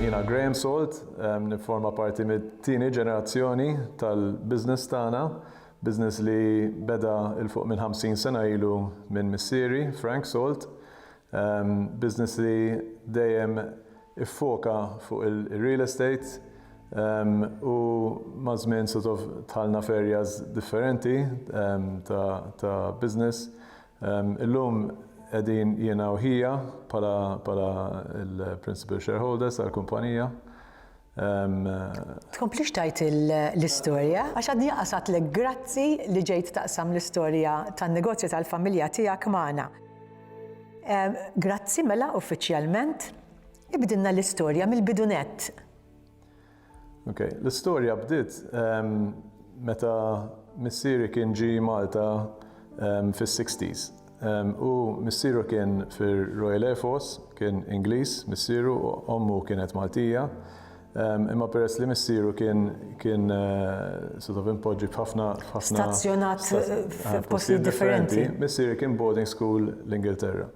Jiena Graham Salt, nifforma parti mit-tieni ġenerazzjoni tal-business tagħna, business li beda 'l fuq minn 50 sena ilu minn missieri, Frank Salt. Business li dejjem iffoka fuq il-real estate u maż-żmien sort of dħalna f'areas differenti ta' business. Illum qegħdin jiena u ħija bħala l-principal shareholders tal-kumpanija. Tkomplix tgħid l-istorja għax għadni anqas għedtlek grazzi li ġejt taqsam l-istorja tan-negozju tal-familja tiegħek magħna. Grazzi mela uffiċjalment. Ibdilna l-istorja mill-bidunett. Ok, l-istorja bdiet meta missieri kien ġi Malta fis-60s. U missieru kien fir-Royal Air Force, kien Ingliż missieru u ommu kienet Maltija. Imma peress li missieru kien kien sort of impoġġi f'ħafna f'ħafna Stazzjonat f'postijiet differenti. Missieri kien boarding school l-Ingilterra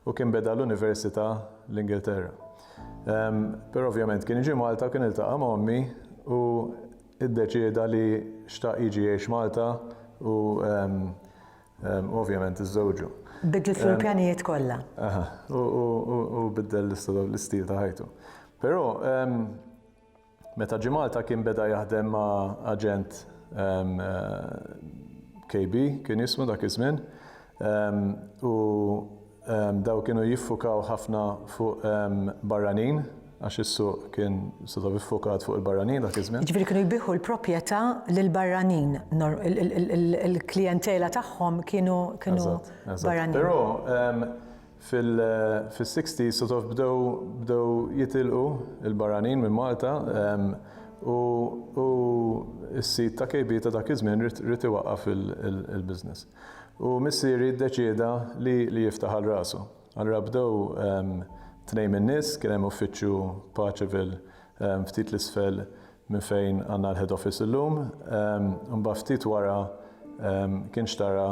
u kien beda l-università l-Ingilterra. Però ovvjament kien ġie Malta u kien iltaqa' ma' ommi u iddeċieda li xtaq jiġi jgħix Malta u ovvjament iżżewġu. Biddlet fil-pjanijiet kollha. Aha, u biddel l-istil ta' ħajtu. Però, Meta ġie Malta kien beda jaħdem ma' aġent KB kien jismu dak iż-żmien u dawn kienu jiffukaw ħafna fuq barranin għax is-suq kien sort of iffukat fuq il-barranin dak iż-żmien. Jiġifieri kienu jbigħu l-propjetà lil barranin, il-klijentela tagħhom kienu barranin. Eżatt, eżatt. Però Fis-sixties sort of bdew bdew jitilqu l-barranin minn Malta u u s-sid ta' KB ta' dak iż-żmien ried ried iwaqqaf il-business. U missieri ddeċieda li li jiftaħ għal rasu. Allura bdew tnejn min-nies, kien hemm uffiċċju Paceville ftit 'l isfel minn fejn għandna l-head office illum. Imbagħad ftit wara kien xtara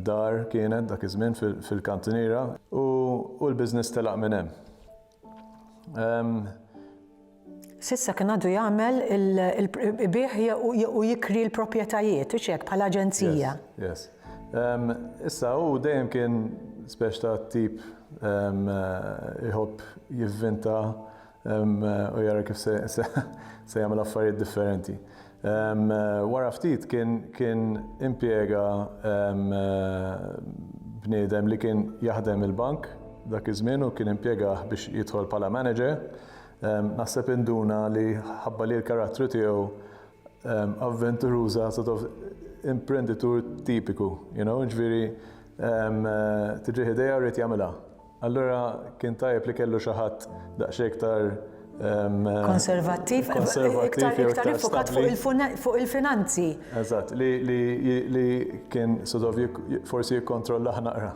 Dar kienet dak iż-żmien fil-Kantiniera u l-business telaq minn hemm. S'issa kien għadu jagħmel il-ibiegħ u jikri l-proprjetajiet, hux hekk, bħala aġenzija? Yes, yes. Issa hu dejjem kien speċi ta' tip iħobb jivvinta u jara kif se jagħmel affarijiet differenti. Wara ftit kien impjega bniedem li kien jaħdem il-bank dak iż-żmien u kien impjegah biex jidħol bħala manager. Naħseb induna li ħabba li l-karattru tiegħu avventuruża sort of imprenditur tipiku, you know, ġifieri tiġih idea u jrid jagħmilha. Allura kien tajjeb li kellu xi ħadd daqsxejn iktar konservattiv, iktar iktar ifokat fuq il-finanzi. Eżatt, li kien sodov forsi jikkontrolla ħnaqra.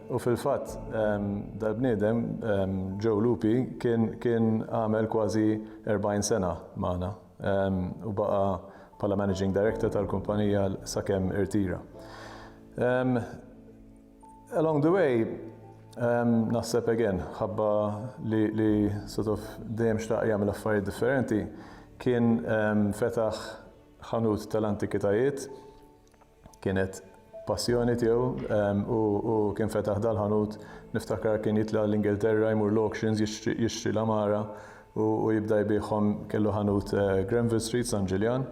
U fil-fatt, dal-bniedem, Joe Lupi, kien għamel kważi 40 sena magħna u baqa' bħala managing director tal-kumpanija sakemm irtira. Along the way, um, naħseb again, ħabba li, li sort of dejjem xtaq jagħmel affarijiet differenti, kien um, fetaħ ħanut tal-antikitajiet, kienet passjoni tiegħu um, u, u kien fetaħ dal-ħanut niftakar kien jitla l-Ingilterra jmur l-auctions jixtri l-amara u, u jibda jbieħhom kellu ħanut uh, Granville Street San Ġiljan.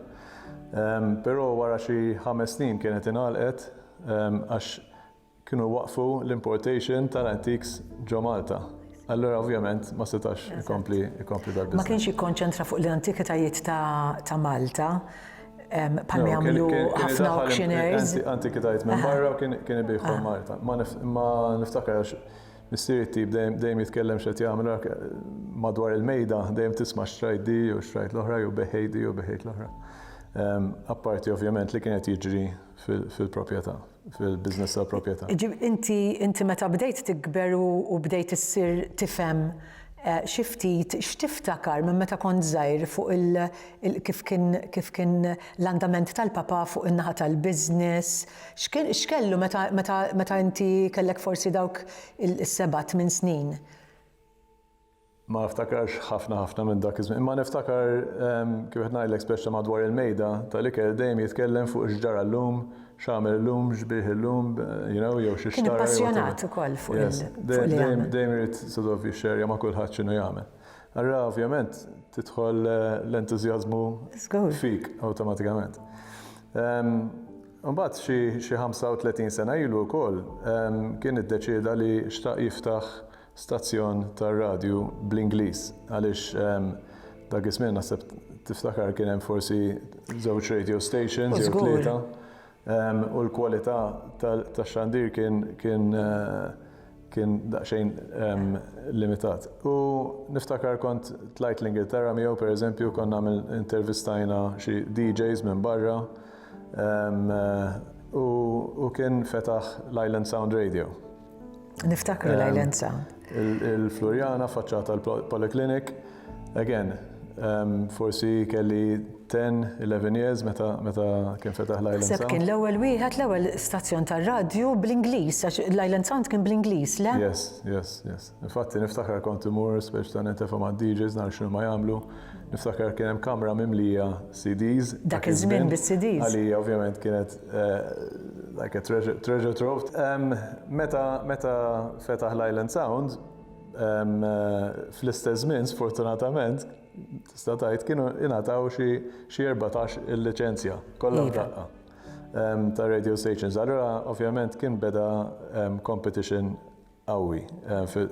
Um, Però wara xi ħames snin kienet inalqet għax kienu jwaqqfu l-importation tal-antiques ġo Malta. Allura ovvjament ma setax ikompli ikompli dal Ma kienx jikkonċentra fuq l-antikitajiet ta' Malta bħal ma jagħmlu ħafna auctioneers. Antikitajiet minn barra u kien kien ibiħhom ah. Malta. Ma niftakar għax missieri tip dejjem jitkellem x'qed jagħmel madwar il-mejda dejjem tisma' xtrajt di u xtrajt l-oħra jew beħejt di u beħejt l-oħra. Apparti ovvjament li kienet jiġri fil-proprjetà, fil-business tal-proprjetà. Inti, inti meta bdejt tikber u bdejt issir tifhem xi ftit, x'tiftakar minn meta kont żgħir fuq il, kif kien, kif kien l-andament tal-papà fuq in-naħa tal-business? X'kien, x'kellu meta, meta, meta inti kellek forsi dawk is-seba' tmien snin? Ma niftakarx ħafna ħafna minn dak iż-żmien, imma niftakar kif qed ngħidlek speċta madwar il-mejda tal-ikel dejjem jitkellem fuq x'ġara llum, x'għamel illum, x'biegħ illum, you know, jew xi xtara jew whatever. Kien ippassjonat ukoll fuq li jagħmel. Yes, dejjem irid sort of jixxerja ma' kulħadd x'inhu jagħmel. Allura ovvjament tidħol l-entużjażmu fik awtomatikament. Imbagħad xi 35 sena ilu wkoll kien iddeċieda li xtaq jiftaħ stazzjon tar-radju bl-Ingliż għaliex ehm, dak iż-żmien naħseb tiftakar kien hemm forsi żewġ radio stations jew tlieta ehm, u l-kwalità tax-xandir kien kien eh, kien daqsxejn ehm, limitat. U niftakar kont tlajt l-Ingilterra miegħu pereżempju konna intervistajna xi DJs minn barra eh, u kien fetaħ l-Island Sound Radio. Niftakru l-Islanza. Il-Floriana faċċata l-Polyclinic, again, forsi kelli 10-11 years meta kien fetaħ l-Island Sound. Seb kien l-ewwel wieħed l-ewwel stazzjon tar-radju bl-Ingliż, għax l-Island Sound kien bl-Ingliż, le? Yes, yes, yes. Infatti niftakar kont imur speċ ta' nitefhom għad-DJs nar x'nu ma jagħmlu. Niftakar kien hemm kamra mimlija CDs. Dak iż-żmien bis-CDs. Għalija ovvjament kienet Like a treasure, treasure trove. Meta, meta fetaħ l-Island Sound, fl-istess żmien sfortunatament tista' tgħid kienu ingħataw xi xi 14 il-liċenzja kollha f'daqqa ta' radio stations. Allura ovvjament kien beda competition qawwi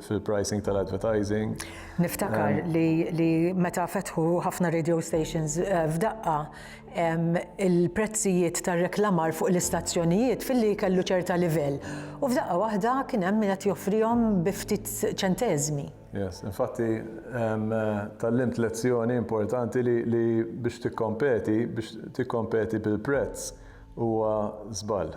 fil-pricing tal-advertising. Niftakar li meta fetħu ħafna radio stations f'daqqa, il-prezzijiet tar-reklamar fuq l-istazzjonijiet filli kellu ċerta livell u f'daqqa waħda kien hemm min qed joffrihom bi ftit ċenteżmi. Yes, infatti tgħallimt lezzjoni importanti li biex tikkompeti, biex tikkompeti bil-prezz huwa żball,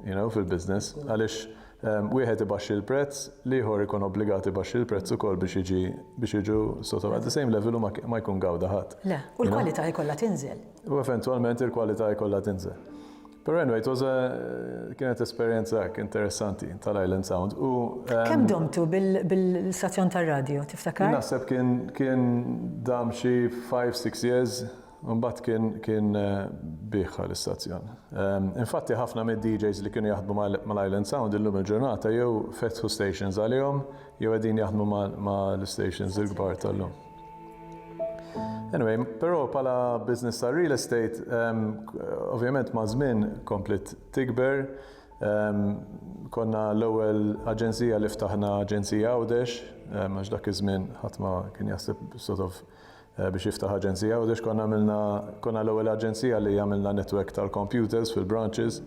you know, fil-business għaliex wieħed ibaxxi l-prezz, l-ieħor ikun obbligat ibaxxi l-prezz ukoll biex jiġi biex jiġu sotto at the same level u ma ma jkun gawda ħadd. Le, u l-kwalità jkollha tinżel. U eventwalment il-kwalità jkollha tinżel. Però anyway, it was a kienet esperjenza hekk interessanti tal-Island Sound u Kemm domtu bil-stazzjon tar-radju, tiftakar? Naħseb kien kien dam xi five, six years. Imbagħad kien kien bigħha l-istazzjon. Infatti ħafna mid-DJs li kienu jaħdmu mal-Island Sound illum il-ġurnata jew fetħu stations għalihom jew qegħdin jaħdmu mal-istations il-kbar tal-lum. Anyway, però bħala business ta' real estate, ovvjament ma' żmien kompliet tikber. Konna l-ewwel aġenzija li ftaħna aġenzija Għawdex, għax dak iż-żmien ħadd ma kien jaħseb sort of biex jiftaħ aġenzija Għawdex konna għamilna konna l-ewwel aġenzija li għamilna netwerk tal-computers fil-branches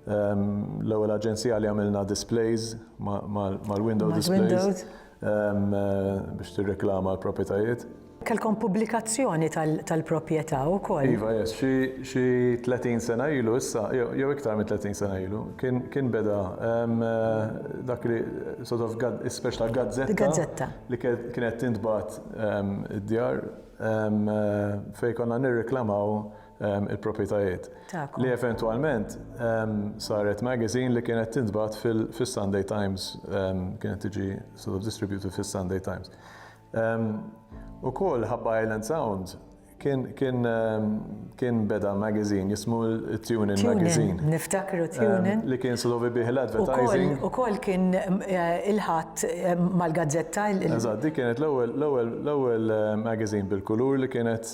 l-ewwel aġenzija li għamilna displays mal-window displays biex tirreklama l-proprjetajiet. Kelkom pubblikazzjoni tal-proprjetà wkoll? Iva, yes. Xi 30 sena ilu issa, jew iktar minn 30 sena ilu, kien beda dak li sort of speċi ta' gazzetta li kienet tintbagħat id-djar fejn konna nirriklamaw il-proprjetajiet. Li eventwalment saret magazine li kienet tintbagħat fis-Sunday Times, kienet tiġi sort of distributed fis-Sunday Times. Ukoll Ħabba Island Sound Kien, kien, kien beda magazine jismu Tunin Magazine. Niftakru Tunin. Li kien slovi bih l-advertising. U kol kien il-ħat mal-gazzetta. Eżad, di kienet l-ewel magazine bil-kulur li kienet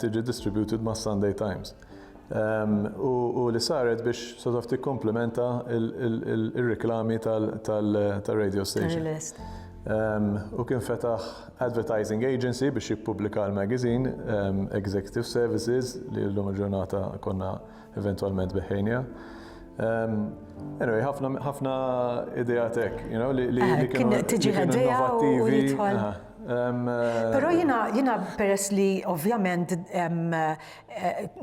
tiġi distributed ma' Sunday Times. u li saret biex sort of tikkomplementa r-riklami tar-radio station. Hu kien fetaħ advertising agency biex jippubblika l-magazine, Executive Services, li llum il-ġurnata konna eventwalment beħħejniha. Anyway, ħafna ideat hekk, you know, li kienu innovattivi. Però jiena peress li ovvjament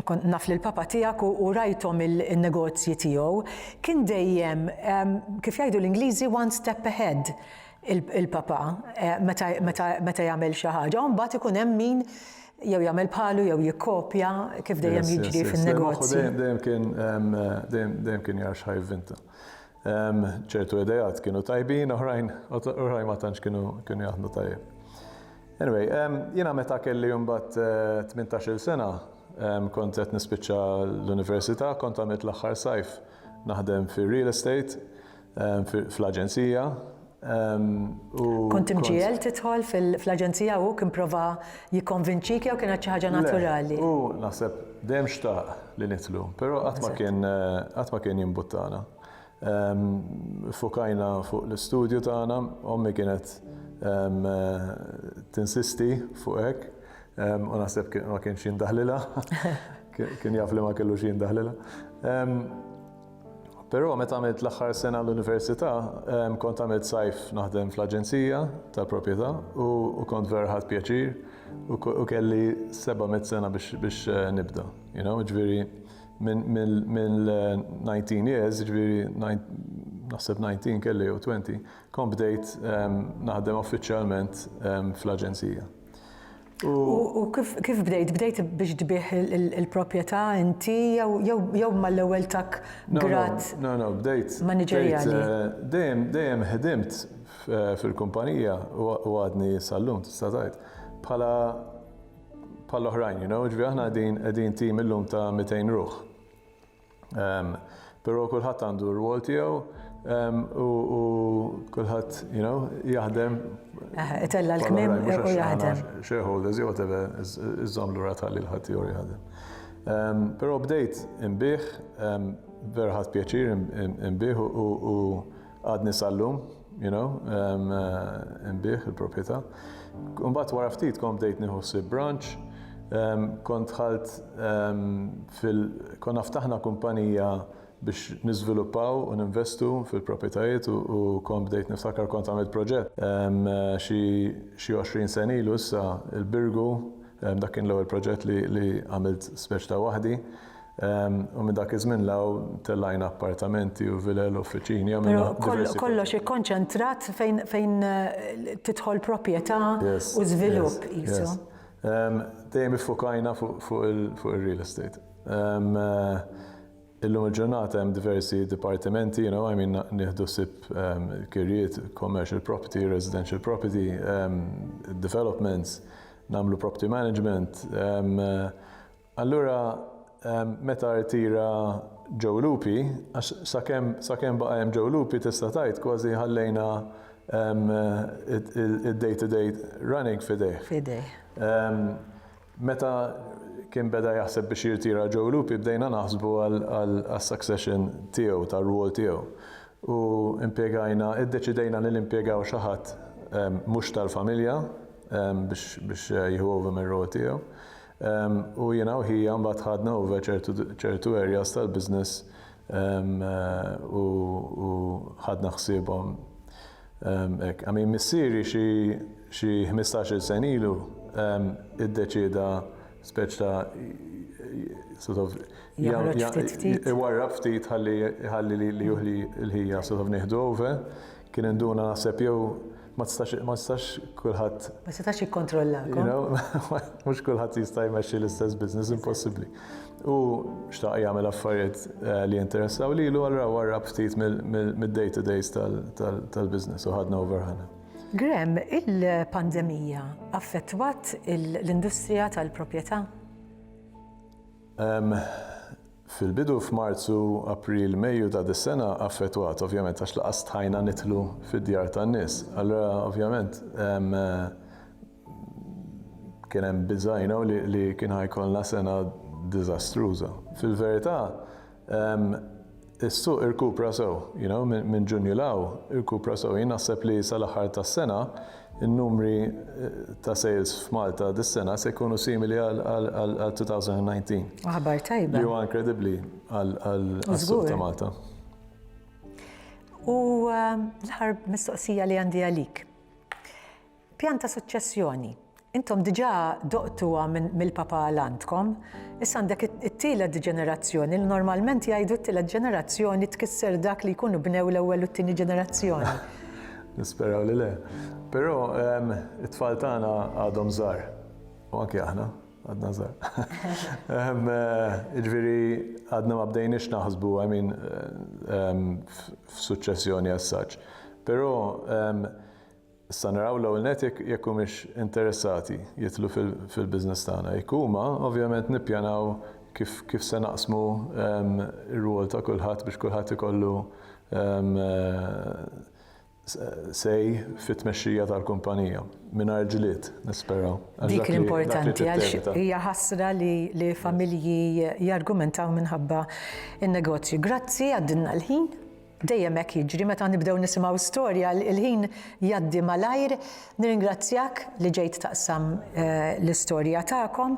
Kont naf lill-papa tiegħek u rajthom in-negozji tiegħu. Kien dejjem, kif jgħidu l-Ingliżi, one step ahead il-papa meta jagħmel xi ħaġa u mbagħad ikun hemm min jew jagħmel bħalu jew jikkopja kif dejjem jiġri fin-negozji. Moħħu dejjem kien jara x'ħa jivvinta. ċertu idejat kienu tajbin, oħrajn, oħrajn ma tantx kienu kienu jaħdmu tajjeb. Anyway, jiena meta kelli jumbat 18 eh, sena, kont qed nispiċċa l-università, kont għamilt l-aħħar sajf naħdem fir-real estate, fl-aġenzija, Kont imġiegħel tidħol fl-aġenzija u kien prova jikkonvinċik jew kienet xi ħaġa naturali? U naħseb dejjem xtaq li nidħlu, però qatt ma kien qatt ma kien jimbuttana. Fukajna fuq l-istudju tagħna, ommi kienet tinsisti fuq hekk u naħseb ma kienx jindaħlilha, kien jaf li ma kellux jindaħlilha. Però meta għamilt l-aħħar sena l-università, kont għamilt sajf naħdem fl-aġenzija tal-proprjetà u kont vera ħadt pjaċir u kelli seba' mitt sena biex nibda. Ġifieri mill-19 years, ġifieri naħseb 19 kelli jew 20, kont bdejt naħdem uffiċjalment fl-aġenzija. U kif bdejt? Bdejt biex tbih il-proprjetà inti jew mal-ewwel tak grad? No, no, bdejt. Maniġerjali. Dejjem, dejjem ħdimt fil-kumpanija u għadni sal-lum tista' tgħid. Bħala bħall-oħrajn, you know, ġifieri aħna qegħdin tim illum ta' 200 ruħ. Um, Pero kulħadd għandu r-rwol tiegħu um, u, u kulħadd, you know, jaħdem. Eh, itella l-kmim u jaħdem. Shareholders, jew whatever, iżżom l-ura tal-li l-ħadd jew jaħdem. Um, Pero bdejt imbieħ, um, verħat pjaċir imbieħ u Għadni sal-lum, you know, nbih il-proprjetà. Mbagħad wara ftit kont bdejt nieħu ħsieb branch, kont dħalt fil konna ftaħna kumpanija biex niżviluppaw u ninvestu fil-proprjetajiet u kont bdejt niftakar kont għamilt proġett xi 20 sena ilu issa il-Birgu dak kien l-ewwel proġett li għamilt speċi ta' waħdi U minn dak iż-żmien 'l hawn tellajna appartamenti u vilel u uffiċini, għamilna diversi Però kol- affarijiet. kollox ikkonċentrat fejn fejn eh, tidħol proprjetà Yes, u żvilupp yes, qisu. yes. Em, Dejjem iffukajna fuq fuq il- fuq ir-real estate. Em, eh, Illum il-ġurnata hemm diversi dipartimenti, you know, I mean, nieħdu ħsieb em, kirjiet, commercial property, residential property, em, developments, nagħmlu property management, em, eh, Allura meta rtira Joe Lupi, għax sakemm sakemm baqa' hemm Joe Lupi tista' tgħid kważi ħallejna id-day to day running f'idejh. F'idejh. Meta kien beda jaħseb biex jirtira Joe Lupi bdejna naħsbu għas-succession tiegħu, tar-rwol tiegħu. U impjegajna, iddeċidejna li nimpjegaw xi ħadd mhux tal-familja biex biex jieħu over mir-rwol tiegħu. U jiena u ħija mbagħad ħadna over ċertu ċertu areas tal-business u u ħadna ħsiebhom hekk. I mean missieri xi xi ħmistax-il sena ilu iddeċieda speċi ta' sort of Joħroġ ftit ftit. iwarrab ftit ħalli ħalli lili u l-ħija sort of nieħdu over. Kien induna naħseb jew Ma tistax, ma tistax kulħadd. Ma setax jikkontrollakom. Mhux kulħadd jista' jmexxi l-istess business, impossibbli. U xtaq jagħmel affarijiet eh, li jinteressaw lilu allura warrab ftit mid-day to days tal-business u ħadna over ħana. Grem, il-pandemija affettwat l-industrija tal-proprjetà? Fil-bidu f'Marzu, April, Mejju ta' dis-sena affettwat ovvjament għax lanqas stħajna nidħlu fid-djar tan-nies. Allura ovvjament kien hemm biża' you know li kien ħa jkollna sena diżastruża. Fil-verità is-suq irkupra sew you know minn Ġunju 'l hawn irkupra sew. Jien naħseb li sal-aħħar tas-sena In-numri ta' sales f'Malta dis-sena se jkunu simili għal 2019. Aħbar tajba. Li huwa inkredibbli għas-suq ta' Malta. U l-aħħar mistoqsija li għandi għalik. Pjan ta' suċċessjoni. Intom diġà doqtuha mill-papa għal għandkom, issa għandek it-tielet ġenerazzjoni li normalment jgħidu t-tielet ġenerazzjoni tkisser dak li jkunu bnew l-ewwel u t-tieni ġenerazzjoni. Nisperaw li le. Però it-tfal tagħna għadhom żgħar. U anke aħna għadna żgħar. Jiġifieri għadna ma bdejniex naħsbu I mean f'suċċessjoni as such. Però issa naraw l-ewwel nett jekk humiex interessati jidħlu fil-business tagħna. Jekk huma, ovvjament nippjanaw kif se naqsmu r-rwol ta' kulħadd biex kulħadd ikollu Say fit-tmexxija tal-kumpanija, mingħajr ġlied, nisperaw, għax dak li trid tevita. Dik l-importanti għax hija ħasra li familji jargumentaw minħabba n-negozju. Grazzi għaddilna l-ħin, dejjem hekk jiġri meta nibdew nisimgħu storja l-ħin jgħaddi malajr. Nirringrazzjak li ġejt taqsam l-istorja tagħkom.